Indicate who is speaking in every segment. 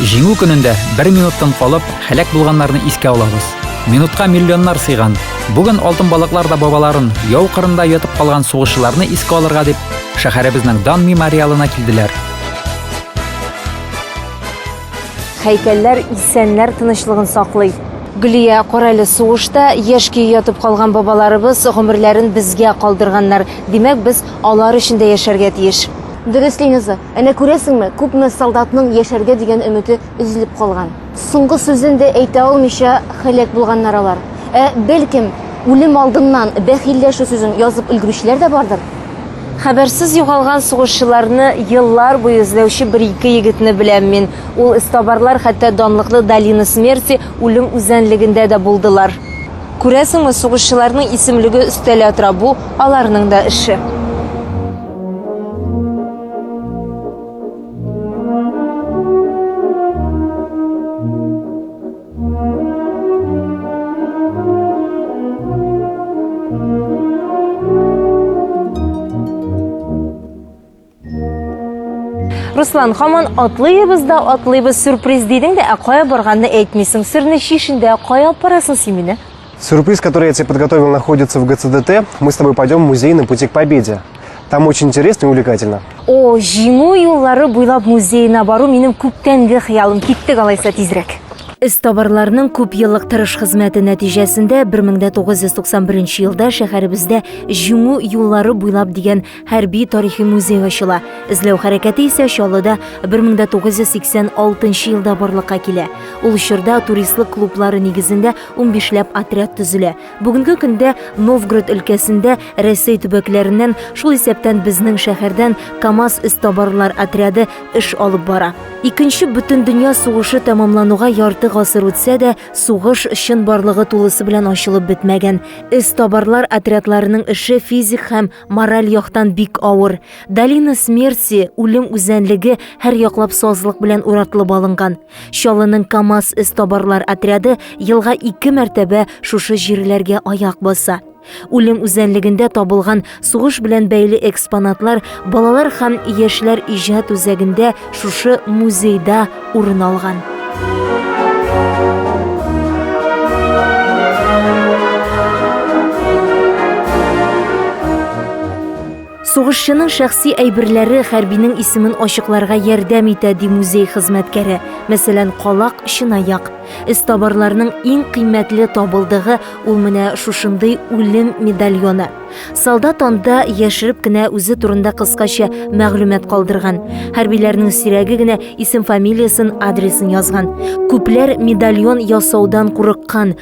Speaker 1: Җиңү көнендә бер минуттан калып, һәлак булганнарны искә алабыз. Минутка миллионнар сыйган. Бүген алтын балыклар да бабаларын, яу кырында ятып калган сугышчыларны искә алырга дип, шәһәребезнең дан мемориалына килделәр.
Speaker 2: Һәйкәлләр исәннәр тынычлыгын саклый. Гөлия, карале, сугышта яшь көе ятып калган бабаларыбыз гомерләрен безгә калдырганнар. Димәк, без алар өчен дә яшәргә тиеш. Дөрес, Линиза.
Speaker 3: Әнә күрәсеңме, күпме солдатның яшәргә дигән өмете өзелеп калган. Соңгы сүзен дә әйтә алмыйча һәлак булганнар алар. Ә, бәлкем, үлем алдыннан бәхилләшү сүзен язып өлгерүчеләр дә бардыр? Хәбәрсез
Speaker 2: югалган сугышчыларны еллар буе эзләүче бер-ике егетне беләм мин. Ул эзтабарлар хәтта данлыклы Долина смерти, Үлем үзәнлегендә дә булдылар. Күрәсеңме, сугышчыларның исемлеге өстәлә тора, бу, аларның да эше. Руслан, хаман атлыйбыз да атлыйбыз сюрприз дидең дә, ә кая барганны әйтмисең. Серне шишендә, кая апарасың син мине? Сюрприз, который я
Speaker 4: тебе подготовил, находится в ГЦДТ. Мы с тобой пойдем в музей на пути к победе. Там очень интересно и увлекательно. О, җиңү
Speaker 2: юллары буйлап музейына бару минем күптәнге хыялым. Киттек алайса тизрәк. Эз табарларның күп еллык тырыш хезмәте нәтиҗәсендә 1991 елда шәһәребездә Җиңү юллары буйлап дигән хәрби тарихи музей ачыла. Эзләү хәрәкәте исә Чаллыда 1986 елда барлыкка килә. Ул чорда туристлык клублары нигезендә Унбишләп отряд төзелә. Бүгенге көндә Новгород өлкәсендә Рәсәй төбәкләреннән, шул исәптән безнең шәһәрдән КАМАЗ эзтабарлар отряды эш алып бара. Икенче бөтендөнья сугышы тәмамлануга ярты гасыр үтсә дә, сугыш чынбарлыгы тулысы белән ачылып бетмәгән. Эзтабарлар отрядларының эше физик һәм мораль яктан бик авыр. Долина смерти, үлем үзәнлеге, һәрьяклап сазлык белән уратлып алынган. Чалының КАМАЗ эзтабарлар отряды елга ике мәртәбә шушы җирләргә аяк баса. Үлем үзәнлегендә табылган сугыш белән бәйле экспонатлар балалар һәм яшьләр иҗат үзәгендә шушы музейда урын алган. Сугышчының шәхси әйберләре хәрбинең исемен ачыкларга ярдәм итә, ди музей хезмәткәре. Мәсәлән, калак, чынаяк. Эзтабарларның иң кыйммәтле табылдыгы ул менә шушындый үлем медальоны. Солдат анда яшереп кенә үзе турында кыскача мәгълүмат калдырган. Хәрбиләрнең сирәге генә исем-фамилиясен, адресын язган. Күпләр медальон ясаудан курыккан,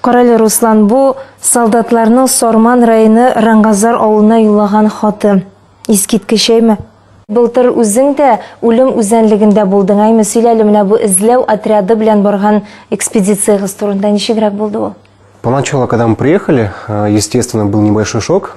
Speaker 5: Карале, Руслан,
Speaker 2: бу солдатларның Сарман районы Рангазар авылына юллаган хаты. Искиткеч, әйме? Былтыр үзең дә үлем үзәнлегендә булдың, әйме? Сөйлә әле менә бу эзләү отряды белән барган экспедициягыз турында. Ничегрәк булды ул? Поначалу, когда мы
Speaker 4: приехали, э, естественно, был небольшой шок.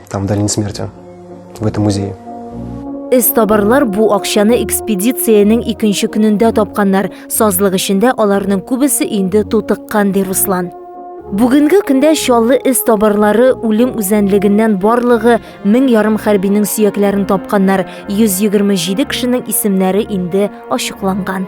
Speaker 4: Там долина смерти, в этом музее.
Speaker 2: Эстабарлар бу акчаны экспедициянең икенче көнендә тапканнар. Сазлык эшендә аларның күбесе инде тутыккан, ди Руслан. Бүгенге көндә Чаллы эстабарлары үлем үзәнлегеннән барлыгы мең ярым хәрбинең сөякләрен тапканнар, 127 кешенең исемнәре инде ачыкланган.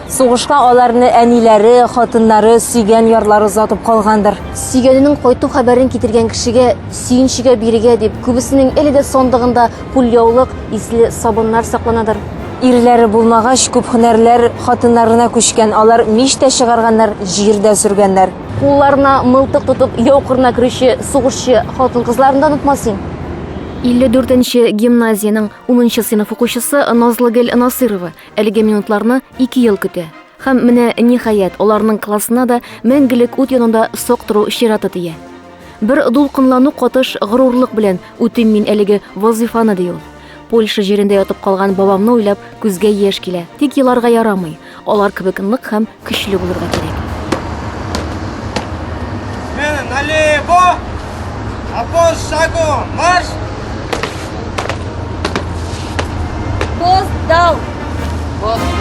Speaker 3: Сугышка аларны әниләре, хатыннары, сөйгән ярлары озатып калгандыр. Сөйгәненең кайту хәбәрен китергән кешегә, сөенчегә бирегә дип, күбесенең әле дә сандыгында кулъяулык, исле сабыннар сакланадыр. Ирләре булмагач, күп һөнәрләр хатыннарына күчкән, алар мич тә чыгарганнар, җир дә сөргәннәр. Кулларына мылтык тотып яу кырына керүче сугышчы хатын-кызларны да онытмасың. 54
Speaker 2: нче гимназиянең унынчы сыйныф укучысы Назлыгөл Насыйрова Әлеге минутларны ике ел көтә. Һәм менә ниһаять аларның классына да мәңгелек ут янында сак тору чираты тия. Бер дулкынлану катыш горурлык белән үтим мин әлеге вазифаны ди ул. Польша җирендә ятып калган бабамны уйлап күзгә яшь килә. Тик еларга ярамый. Алар кебек нык һәм Көчле булырга кирәк. Смена
Speaker 6: налево! Обоз шагу! Марш!
Speaker 3: Пост дал! Пост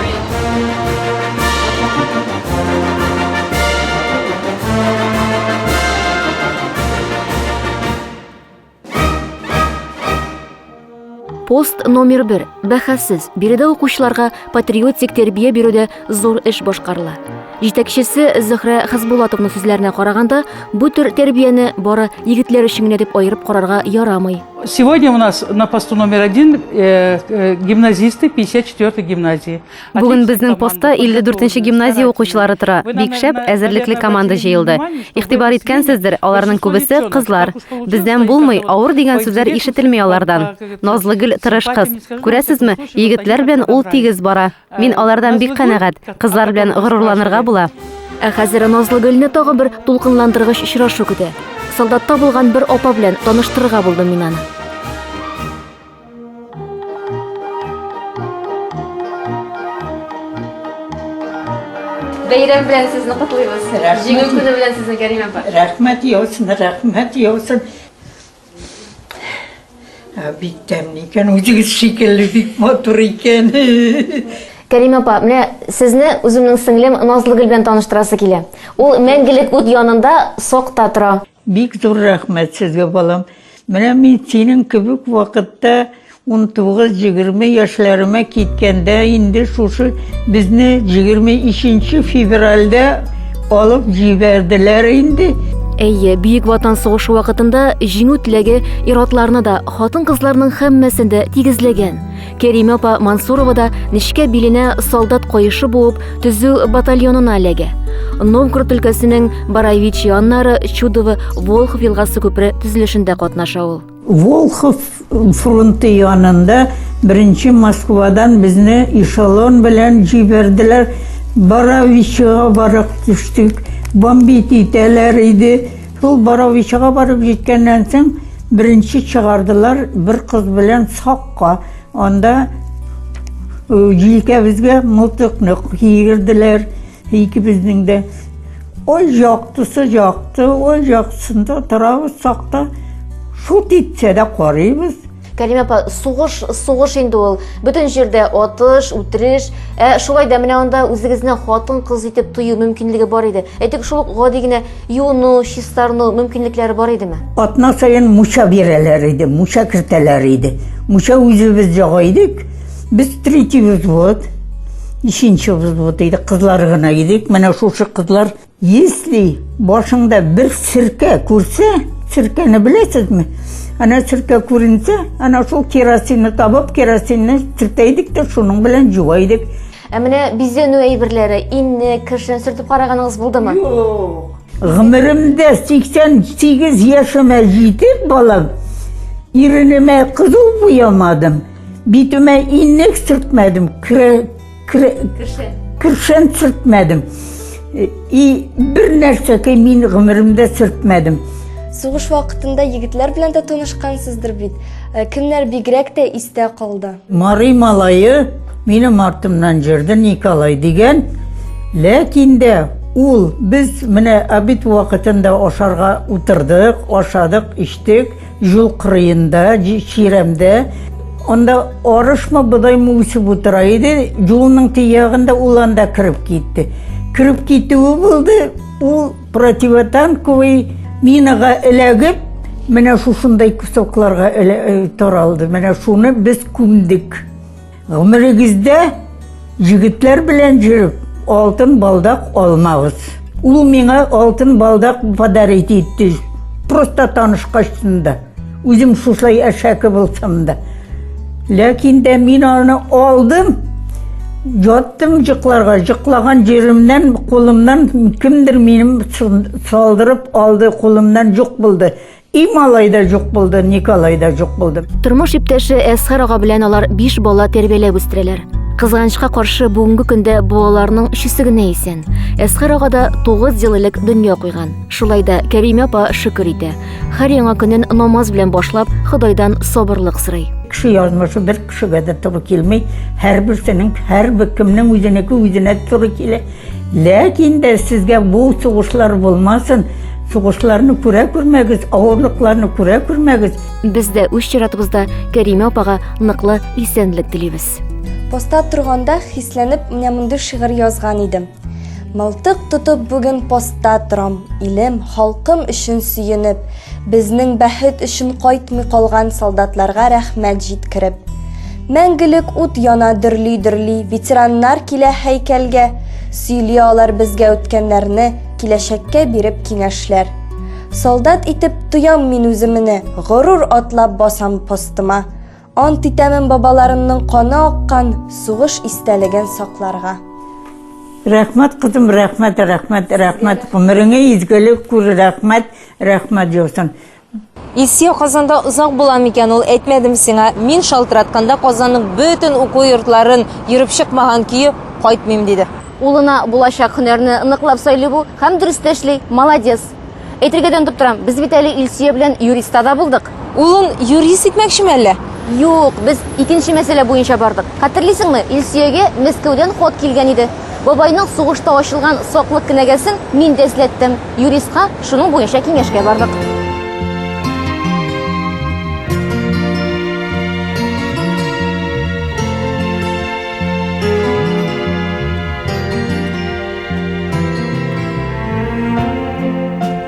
Speaker 2: Пост номер бер. Бәхәссез, биредә укучыларга патриотик тәрбия бирүдә зур эш башкарыла. Җитәкчесе Зөхрә Хазбулатовның сүзләренә караганда, бу төр тәрбияне бары егетләр өчен генә дип аерып карарга ярамый. Сегодня у нас
Speaker 7: на посту номер один э, э, гимназисты 54-й гимназии. Бүген безнең
Speaker 8: постта 54 нче гимназия укучылары тора. Бик шәп, әзерлекле команда җыелды. Игътибар иткәнсездер, аларның күбесе кызлар. Бездән булмый, авыр дигән сүзләр ишетелми алардан. Назлыгөл тырыш кыз. Күрәсезме, егетләр белән ул тигез бара. Мин алардан бик канәгать. Кызлар белән горурланырга була. Ә хәзер
Speaker 2: Назлыгөлне тагы бер дулкынландыргыч очрашу көтә. Солдатта булган бер апа белән таныштырырга булдым мин аны.
Speaker 9: Бәйрәм белән сезне котлыйбыз. Җиңү көне белән сезне Кәрим
Speaker 10: апа. Рәхмәт яусын, рәхмәт яусын. Бик тәмле икән, үзегез шикелле бик матур икән.
Speaker 3: Кәрим апа, менә сезне үземнең сеңлем Назлыгөл белән таныштырасы килә. Ул мәңгелек ут янында сокта тора. Бик зур рәхмәт
Speaker 10: сезгә, балам. Менә мин синең кебек вакытта 19-20 яшьләремә киткәндә инде шушы безне 23 февральдә алып җибәрделәр инде. Әйе, Бөек
Speaker 2: Ватан сугышы вакытында җиңү теләге ир-атларны да, хатын-кызларның һәммәсен дә тигезләгән. Кәриме апа Мансурова да нечкә биленә солдат каешы буып, төзү батальонына эләгә. Новгород өлкәсенең Бараевич яннары Чудово Волхов елгасы күпре төзелешендә катнаша ул. Волхов
Speaker 10: фронты янында беренче Москвадан безне эшелон белән җибәрделәр. Бараевичга барып төштек. Бомбит итәләр иде. Шул Боровичага барып җиткәннән соң, беренче чыгардылар бер кыз белән Сакка. Анда җилкәбезгә мылтыкны киерделәр, икебезнең дә. Ой, яктысы якты, ой, яктысында торабыз Сакта. Шут итсә дә карыйбыз. Кәлимә апа,
Speaker 3: сугыш, сугыш инде ул. Бөтен җирдә атыш, үтереш. Ә шулай да менә анда үзегезне хатын-кыз итеп тою мөмкинлеге бар иде. Әйтик, шул гади генә юыну, чистарыну мөмкинлекләре бар идеме? Атна саен муча
Speaker 10: бирәләр иде, муча кертәләр иде. Муча үзебез җага идек. Без третий взвод, ишенче взвод идек, кызлар гына идек. Менә шушы кызлар Если башыңда бер серкә күрсә, серкәне беләсезме? Ана серкә күренсә, ана шул керосинны табып, керосинны сөртә идек тә шуның белән җуа идек. Ә менә
Speaker 3: бизәнү әйберләре, инне, кершен сөртеп караганыгыз булдымы?
Speaker 10: Гомеремдә 88 яшемә җитеп балам, иренемә кызыл буямадым, битемә иннек сөртмәдем, Кершен сүртмәдем. И бер нәрсә ки мин гомеремдә сүртмәдем. Сугыш
Speaker 9: вакытында егетләр белән дә танышкансыздыр бит. Э, кемнәр бигрәк тә истә калды? Мари малае
Speaker 10: минем артымнан җырды Николай дигән. Ләкин дә ул без менә обед вакытында ашарга утырдык, ашадык, иштек. Юл кырыенда, чирәмдә, анда арышмы, бодаймы үсеп утыра иде, юлның тиягендә ул анда кереп китте. Кереп китүе булды, ул противотанковый минага эләгеп, менә шушындай кусокларга э, таралды. Менә шуны без күмдек. Гомерегездә егетләр белән җөреп, алтын балдак алмагыз. Ул миңа алтын балдак подарить итте. Просто танышкачтын да. Үзем шушай әшәке булсам да. Ләкин дә мин аны алдым. Яттым җыкларга, җыклаган җиремнән, кулымнан кемдер минем салдырып алды, кулымнан җук булды. И малай да жок булды, Николай да жок булды. Тормыш иптәше
Speaker 2: Әсхар ага белән алар биш бала тәрбияләп үстерәләр. Кызганычка каршы бүгенге көндә балаларның өчесе генә исән. Әсхар ага да 9 ел элек дөнья куйган. Шулай да Кәримә апа шөкер итә. Һәр яңа көнен намаз белән башлап, Ходайдан сабырлык сорый. Кеше язмышы бер
Speaker 10: кешегә дә туры килми. Һәрберсенең, һәрбер кемнең үзенеке үзенә туры килә. Ләкин дә сезгә бу сугышлар булмасын, сугышларны күрә күрмәгез, авырлыкларны күрә күрмәгез. Без дә үз
Speaker 2: чиратыбызда Кәримә апага ныклы исәнлек телибез. Поста
Speaker 9: торганда хисләнеп менә мондый шигырь язган идем. Мылтык тотып бүген поста торам, илем, халкым өчен сөенеп, безнең бәхет өчен кайтмый калган солдатларга рәхмәт җиткереп. Мәңгелек ут яна дөрли-дөрли, ветераннар килә һәйкәлгә, сөйли алар безгә үткәннәрне, киләчәккә биреп киңәшләр. Солдат итеп тоям мин үземне, горур атлап басам постыма. Ант итәмен бабаларымның каны аккан сугыш истәлеген сакларга.
Speaker 10: Рәхмәт, кызым, рәхмәт, рәхмәт, рәхмәт. Гомереңә изгелек күр, рәхмәт, рәхмәт яусын. Илсия
Speaker 11: Казанда озак була микән ул, әйтмәдем сиңа. Мин шалтыратканда Казанның бөтен уку йортларын йөреп чыкмаган көе кайтмыйм, диде. Улына булачак
Speaker 3: һөнәрне ныклап сайлый бу һәм дөрес тә эшли, молодец. Әйтергә дә онытып торам, без бит әле Илсия белән юриста да булдык. Улын юрист
Speaker 11: итмәкчеме әллә? Юк, без
Speaker 3: икенче мәсьәлә буенча бардык. Хәтерлисеңме, Илсиягә Мәскәүдән хат килгән иде. Бабайның сугышта ачылган саклык кенәгәсен мин дә эзләттем. Юристка шуның буенча киңәшкә бардык.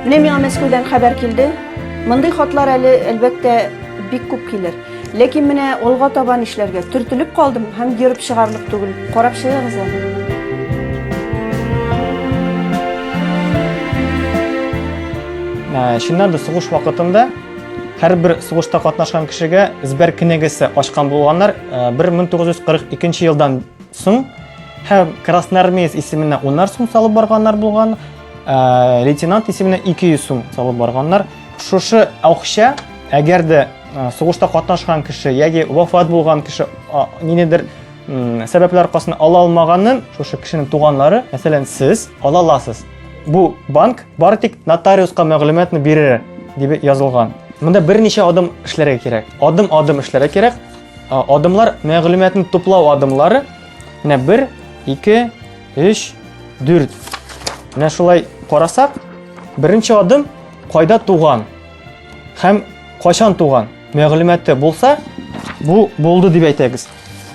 Speaker 12: Менә миңа Мәскәүдән хәбәр килде. Мондый хатлар әле, әлбәттә, бик күп килер. Ләкин менә алга таба нишләргә? Төртелеп калдым һәм ерып чыгарлык түгел. Карап чыгыгыз әле.
Speaker 13: Ә, чыннан да сугыш вакытында һәрбер сугышта катнашкан кешегә Збәр кенәгәсе ачкан булганнар 1942 ә, елдан соң һәм красноармеец исеменә унар сум салып барганнар булган, ә, лейтенант исеменә 200 сум салып барганнар. Шушы акча, әгәр дә Сугышта катнашкан кеше яки вафат булган кеше нинедер сәбәпләр аркасында ала алмаганын шушы кешенең туганнары, мәсәлән, сез ала аласыз. Бу банк бары тик нотариуска мәгълүматны бирер дип язылган. Монда берничә адым эшләргә кирәк. Адым-адым эшләргә кирәк. Адымлар мәгълүматны туплау адымлары. Менә 1, 2, 3, 4. Менә шулай карасак, беренче адым кайда туган? һәм кайчан туган мәгълүматы булса, бу булды дип әйтәбез.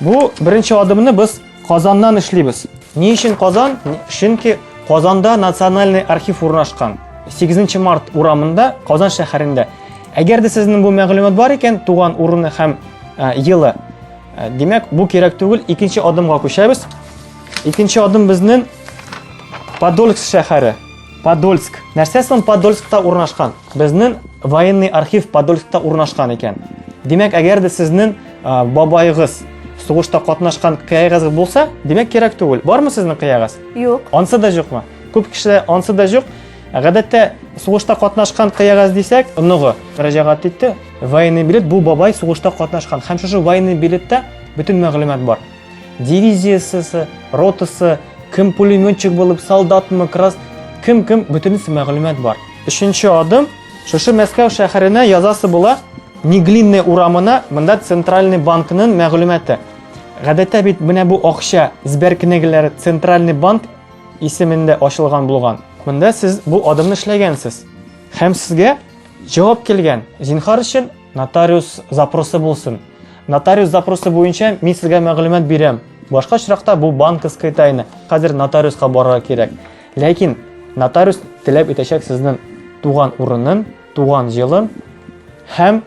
Speaker 13: Бу беренче адымны без Казаннан эшлибез. Ни өчен Казан? Чөнки Казанда национальный архив урнашкан. 8 март урамында, Казан шәһәрендә. Әгәр дә сезнең бу мәгълүмат бар икән, туган урыны һәм ә, елы, ә, димәк, бу кирәк түгел, икенче адымга күчәбез. Икенче адым безнең Подольск шәһәре. Подольск. Нәрсә соң Подольскта урнашкан? Безнең военный архив Подольскта урнашкан икән. Димәк, әгәр дә сезнең бабайыгыз сугышта катнашкан кыягыз булса, димәк кирәк түгел. Бармы сезнең кыягыз? Юк. Ансы да
Speaker 12: юкмы?
Speaker 13: Күп кешеләр ансы да юк. Гадәттә сугышта катнашкан кыягыз дисәк, оныгы мөрәҗәгать итте. Военный билет бу бабай сугышта катнашкан. Һәм шушы военный билетта бөтен мәгълүмат бар. Дивизиясесе, ротасы, кем пулеметчик булып, солдатмы, крас, кем-кем, бөтенесе мәгълүмат бар. Өченче адым, шушы Мәскәү шәһәренә язасы була, Неглинный урамына, монда центральный банкның мәгълүматы. Гадәттә бит менә бу акча сбер книгеләре центральный банк исемендә ачылган булган. Монда сез бу адымны эшләгәнсез. Һәм сезгә җавап килгән. Зинхар өчен Нотариус запросы булсын. Нотариус запросы буенча мин сезгә мәгълүмат бирәм. Башка очракта бу банковская тайна. Хәзер нотариуска барырга кирәк. Ләкин нотариус теләп итәчәк сезнең туган урынын, туган җылын һәм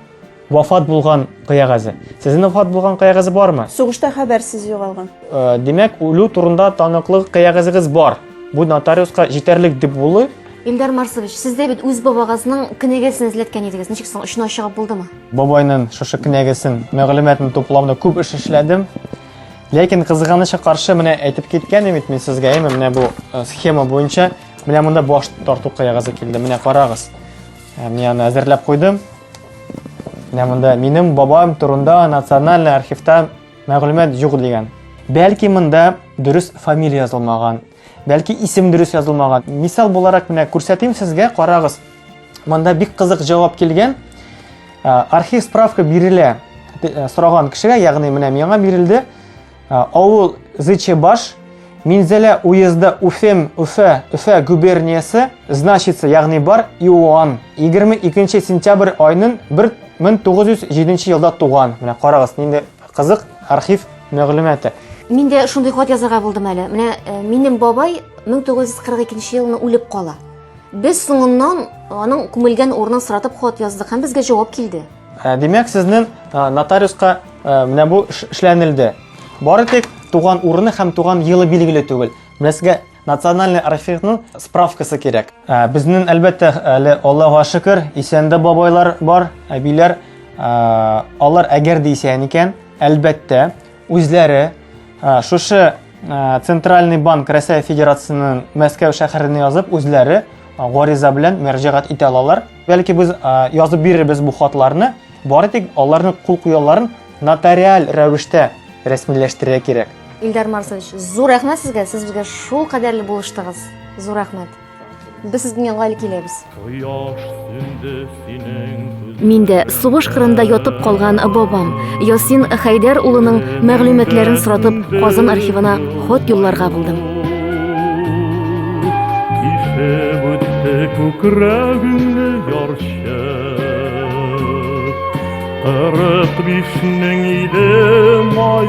Speaker 13: вафат булган кыягазы. Сезнең вафат булган кыягазы бармы? Сугышта хәбәрсез
Speaker 12: югалган. Э, димәк, үлү
Speaker 13: турында таныклык кыягазыгыз бар. Бу нотариуска җитәрлек дип булы, Илдар Марсович,
Speaker 3: сез дә бит үз бабагызның кенәгәсен эзләткән идегез. Ничек соң очына чыгып булдымы? Бабайның шушы
Speaker 13: кенәгәсен, мәгълүматын туплауда күп эш эшләдем. Ләкин кызганыча каршы менә әйтеп киткән бит мин сезгә, әйме, менә бу э, схема буенча менә монда баш тарту кыягызы килде. Менә карагыз. Э, мин аны әзерләп куйдым. Менә монда минем бабам турында национальный архивта мәгълүмат юк дигән. Бәлки монда дөрес фамилия язылмаган, Бәлки исем дөрес язылмаган. Мисал буларак менә күрсәтим сезгә, карагыз. Монда бик кызык җавап килгән. Архив справка бирелә э, сораган кешегә, ягъни менә миңа бирелде. Авыл Зычебаш, Минзәлә уезды Уфем, Уфа, Уфа губерниясе, значится, ягъни бар, Иоанн. 22 сентябрь айнын 1907 елда туган. Менә карагыз, нинди Кызык архив мәгълүматы. Мин дә шундый
Speaker 3: хат язарга булдым әле. Менә э, минем бабай 1942 елны үлеп кала. Без соңыннан аның күмелгән урынын соратып хат яздык һәм безгә җавап килде. Ә, Димәк, сезнең
Speaker 13: ә, нотариуска ә, менә бу эш- эшләнелде. Бары тик туган урыны һәм туган елы билгеле түгел. Менә сезгә Национальный архивның справкасы кирәк. Ә, Безнең, әлбәттә, әле Аллаһуга шөкер, исән дә бабайлар бар, әбиләр. Ә, Алар әгәр дә исән икән, әлбәттә, үзләре ә, шушы ә, Центральный банк Россия Федерациясенең Мәскәү шәһәренә язып, үзләре а, гариза белән мөрәҗәгать итә алалар. Бәлки без а, язып бирербез бу хатларны, бары тик аларның кул куяларын нотариаль рәвештә рәсмиләштерергә кирәк. Илдар Марсович,
Speaker 3: зур рәхмәт сезгә, сез безгә шул кадәрле булыштыгыз. Зур рәхмәт. Без сезнең янга әле киләбез. Кояш сүнде синең
Speaker 2: күз. Мин дә сугыш кырында ятып калган бабам Ясин Хәйдәр улының мәгълүматларын соратып Казан архивына хат юлларга булдым. Ишеп үтте күкрәгеңне
Speaker 14: ярчы. Кырык бишнең иде май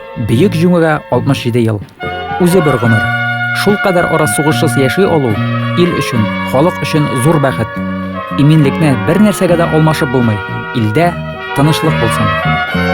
Speaker 1: Бөек җиңүгә 67 ел. Үзе бер гомер. Шулкадәр ара сугышсыз яши алу, ил өчен, халык өчен зур бәхет. Иминлекне бер нәрсәгә дә алмашып булмый. Илдә тынычлык булсын.